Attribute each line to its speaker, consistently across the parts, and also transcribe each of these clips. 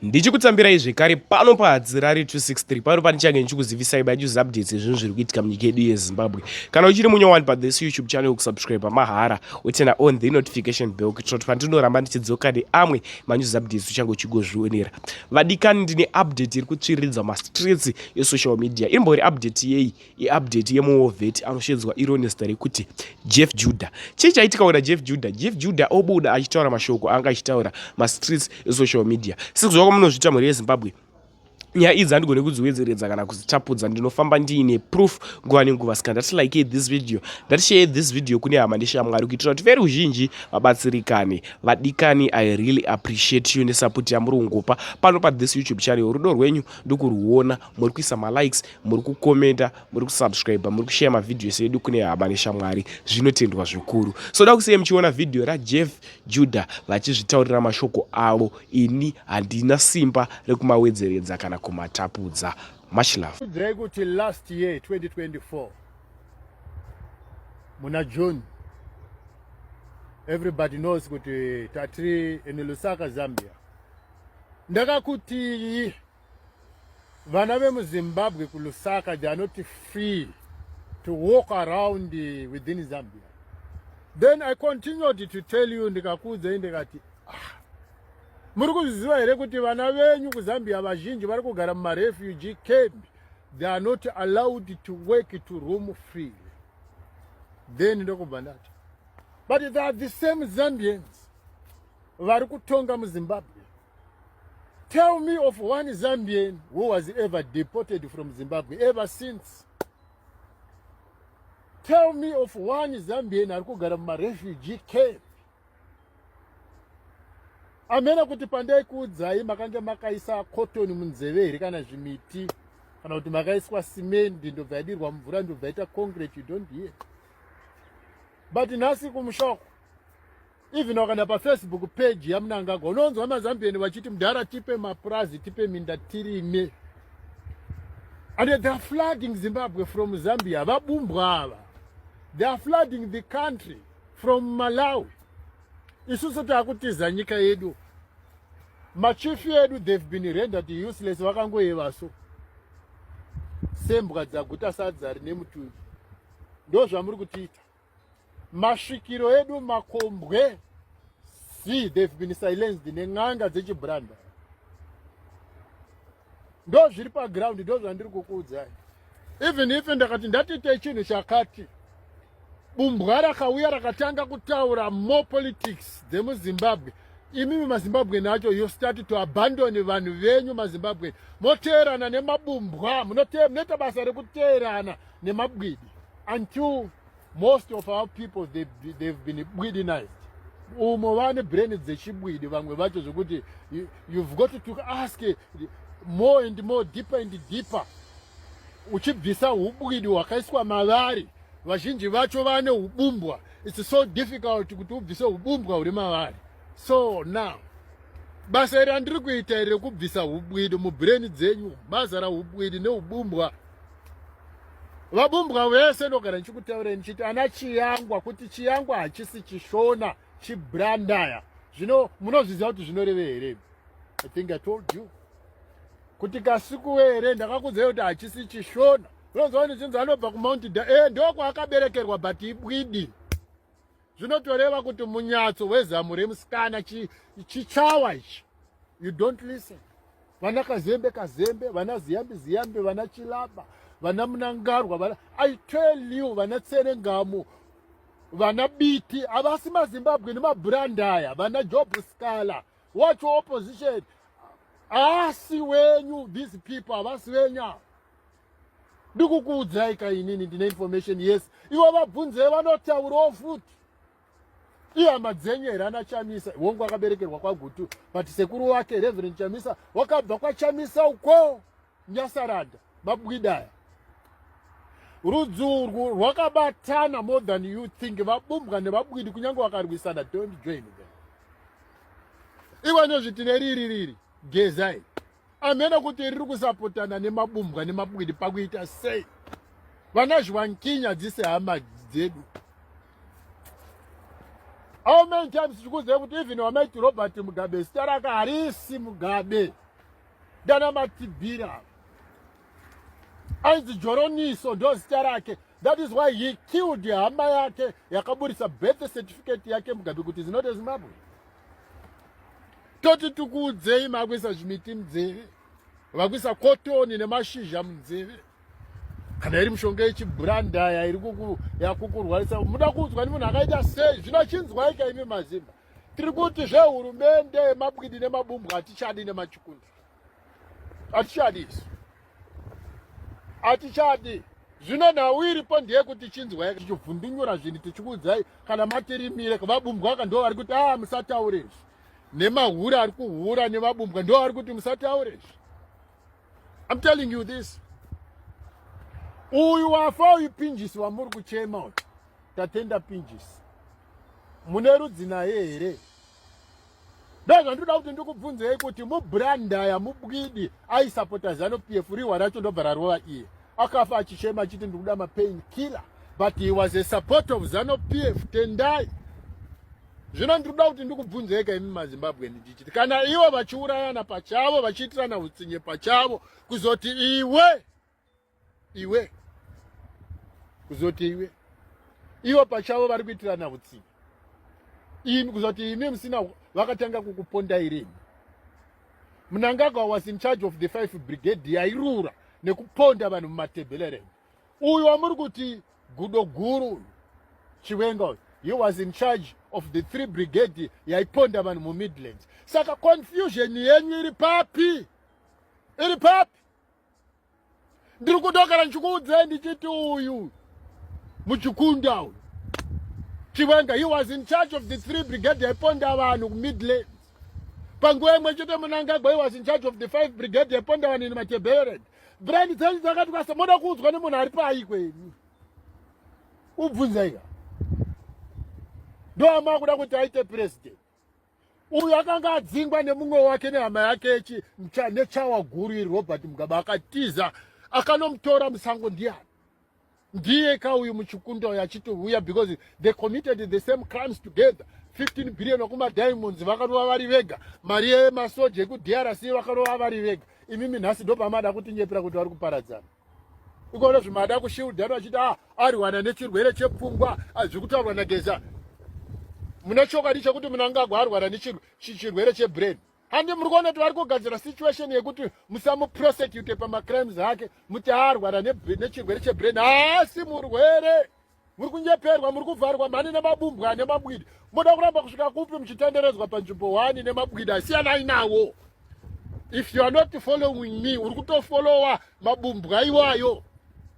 Speaker 1: ndichikutsambirai zvekare pano pahadzirari 263 pano panichange ndichikuzivisai by news updates ezvinhu zviri kuitika munyika yedu yezimbabwe kana uchiri munyowani pathis youtube channel kusubscribe pamahara utena on the notification bell kuitira kuti pandinoramba ndichidzoka neamwe manews updates uchange uchigozvionera vadikani ndine update iri kutsviriridza mastreets esocial media irimbori update yei iupdate yemuwovet anoshedzwa iro nezita rekuti jeff judah chii chaitika wena jeff judah jeff judah obuda achitaura mashoko anga achitaura mastreets esocial media sekuziva kwamunozviita mhuri yezimbabwe nyaya idzi handigone kudziwedzeredza kana kudzitapudza ndinofamba ndiine proof nguva nenguva ska ndati like this video ndati share this video kune hama neshamwari kuitira kuti veri uzhinji vabatsirikane vadikani i really appreciate you nesapoti yamuri kungopa pano pa this youtube channel rudo rwenyu ndokurwuona muri kuisa malikes muri kukomenta muri kusubscribe muri kushaya mavhidhiyo ese edu kune hama neshamwari zvinotendwa zvikuru so da kusei muchiona vhidhiyo rajeff juda vachizvitaurira mashoko avo ini handina simba rekumawedzeredza kana kumatapudza much love kudzai kuti last
Speaker 2: year 2024 muna june everybody knows kuti tatiri in lusaka zambia ndakakutii Vana vemuZimbabwe kuLusaka they are not free to walk around eh, within Zambia. Then I continued to tell you ndikakuudzai ndikati ah, muri kuzviziva here kuti vana venyu kuZambia vazhinji vari kugara mumarefugee camp they are not allowed to work to room free. Then ndokubva ndati but they are the same Zambians vari kutonga muZimbabwe Tell me of one Zambian who was ever deported from Zimbabwe ever since. Tell me of one Zambian ari kugara mumarefugee camp. Amena kuti pandai kuudzai makange makaisa cotton munzeve here kana zvimiti kana kuti makaiswa cement ndobva yadirwa mvura ndobva yaita concrete you don't hear. But nhasi kumushoko even wakaenda pafacebook page yamunangagwa unonzwa mazambian vachiti mudhara tipe mapurazi tipe minda tirime and they are flooding zimbabwe from zambia vabumbwa ava they are flooding the country from malawi isusu taakutiza nyika yedu machifi edu they've been rendered useless vakangoyeva so sembwa dzaguta sadza rine mutuvi ndo zvamuri kutiita masvikiro edu makombwe see they've been silenced nen'anga dzechibranda ndo zviri paground ndo zvandiri kukuudzai even if ndakati ndatite chinhu chakati bumbwa rakauya rakatanga kutaura more politics dzemuzimbabwe imimi mazimbabwe nacho you start to abandon vanhu venyu mazimbabwe moteerana nemabumbwa munoita basa rekuteerana nemabwidi until most of our people they, they've been bwidinized umo vane brain dzechibwidi vamwe vacho zvekuti you've got to ask more and more deeper and deeper uchibvisa ubwidi hwakaiswa mavari vazhinji vacho vane ubumbwa its so difficult kuti ubvise ubumbwa huri mavari so now basa iri andiri kuita iri rekubvisa ubwidi mubrain dzenyu mazara ubwidi neubumbwa vabumbwa vese ndogara ndichikutaureni chiti ana chiyangwa kuti chiyangwa hachisi chishona chibrandaya zvino munozviziva kuti zvinoreve here i think i told you kuti kasikuwe here ndakakuzai kuti hachisi chishona unozovani chinzi anobva kumount da e eh, ndokwaakaberekerwa but ibwidi zvinotoreva kuti munyatso wezamu remusikana chichawa ichi you don't listen vana kazembe kazembe vana ziyambi ziyambi vana chilaba vana munangarwa vana i tell you vana tserengamu vana biti havasi mazimbabwe nemabhurandaya vana job scala watch opposition haasi wenyu these people havasi venyu ava ndikukuudzai ka inini ndine information yes ivo vabvunzei vanotaurawo futi ihama dzenyu here ana chamisa hongu akaberekerwa kwagutu but sekuru wake reverend chamisa wakabva kwachamisa uko nyasaranda mabwidaya rudzi urwu rwakabatana more than you think vabumbwa nevabwidi kunyange vakarwisana don't join them iwe nozviti neriri riri gezai amene kuti riri kusapotana nemabumbwa nemabwidi pakuita sei vana zviwankinya dzise hama dzedu how many times tichikuziva kuti even wamaiti robert mugabe zita rake harisi mugabe ndana matibira ainzi joroniso ndo zita rake that is why he killed hama yake yakaburitsa birth certificate yake mugabe kuti zinote zimbabwe toti tikuudzei makuisa zvimiti munzeve vakuisa kotoni nemashizha munzeve kana iri mishonga yechibhurandaya iri yakukurwarisa muda kuudzwa nemunhu akaita sei zvino chinzwaika imi mazimba tiri kuti zvehurumende yemabwidi nemabumbwa hatichadi nemachikundwa hatichadi isu hatichadi zvino nhau iripo ndeyekuti chinzwai tichivhundunyura zvinhu tichikuudzai kana matirimire vabumbwa aka ndo vari kuti a ah, musataure izvi nemahure ari kuhura nevabumbwa ndo vari kuti musataure izvi im telling you this uyu wafa uyu pinjisi wamuri kuchema uyu tatenda pinjisi mune rudzi naye here ndozvandinoda kuti ndikubvunzei kuti mubrandaya mubwidi aisapota zano p f rihwa racho ndobva rarova iye akafa achichema achiti ndikuda mapain killer but he was a support of zano p f tendai zvino ndikuda kuti ndikubvunzeika imi mazimbabwe ndichichiti kana ivo vachiurayana pachavo vachiitirana utsinye pachavo kuzoti iwe iwe kuzoti iwe ivo pachavo vari kuitirana hutsinye imi kuzoti imi musina vakatanga kukupondai rini munangagwa was in charge of the five brigade yairura nekuponda vanhu mumatebhele renyu uyu wamuri kuti gudo guru uyu chiwenga uyu he was in charge of the three brigade yaiponda vanhu mumidlands saka confusion yenyu iri papi iri papi ndiri kuda kana ndichikuudzei ndichiti uyu muchikunda uyu chiwenga he was in charge of the three brigade yaiponda vanhu kumidlands panguva imwe chete munangagwa he was in charge of the five brigade yaiponda vanhu in matebered brand dzenyu dzakati kwasa moda kuudzwa nemunhu ari pai kwenyu ubvunzaiga ndoamakuda kuti aite president uyu akanga adzingwa nemumwe wake nehama yake nechawa guru iri robert mugabe akatiza akanomutora musango ndiyani ndiye ka uyu muchikunda uyu achiti uya because they committed the same crimes together 15 billion wakumadiamonds vakarova vari vega mari yemasoja ekudrc vakarova vari vega imimi nhasi ndopamada kutinyepera kuti vari kuparadzana ukaona zvimada kushildana achiti ah, ariwana nechirwere chepfungwa ah, zvikutaurwa nageza mune chokwadi chekuti munangagwa arwara nechirwere chebrain handi muri kuona kuti vari kugadzira situation yekuti musamuprosecute pamacrimes ake muti arwara nechirwere chebrain haasi murwere muri kunyeperwa muri kuvharwa mhani nemabumbwa nemabwidi moda kuramba kusvika kupi muchitenderedzwa panzvimbo wani nemabwidi asiyanai nawo if you are not following me uri kutofolowa mabumbwa iwayo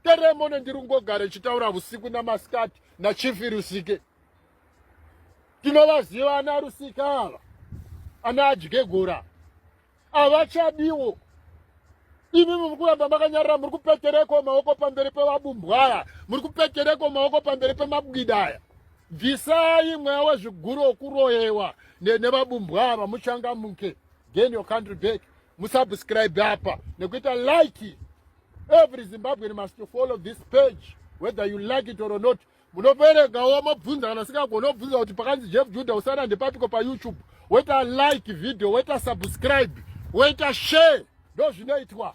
Speaker 2: teremone ndiri kungogara ichitaura vusiku namasikati nachifi rusike tinovaziva ana rusika ava ana adyegora havachadiwo imi muri kuramba makanyarira muri kupetereko maoko pamberi pevabumbwaya muri kupetereko maoko pamberi pemabwidaya bvisai mweya wezviguru wokuroyewa nevabumbwaya vamuchangamuke gain your country back musubscribe apa nekuita like every zimbabwean must follow this page whether you like it or not munoperegawo mobvunza kana sikagona obvunza kuti pakanzi jeff juda usana ndepapiko payoutube woita like video woita subscribe woita share ndozvinoitwa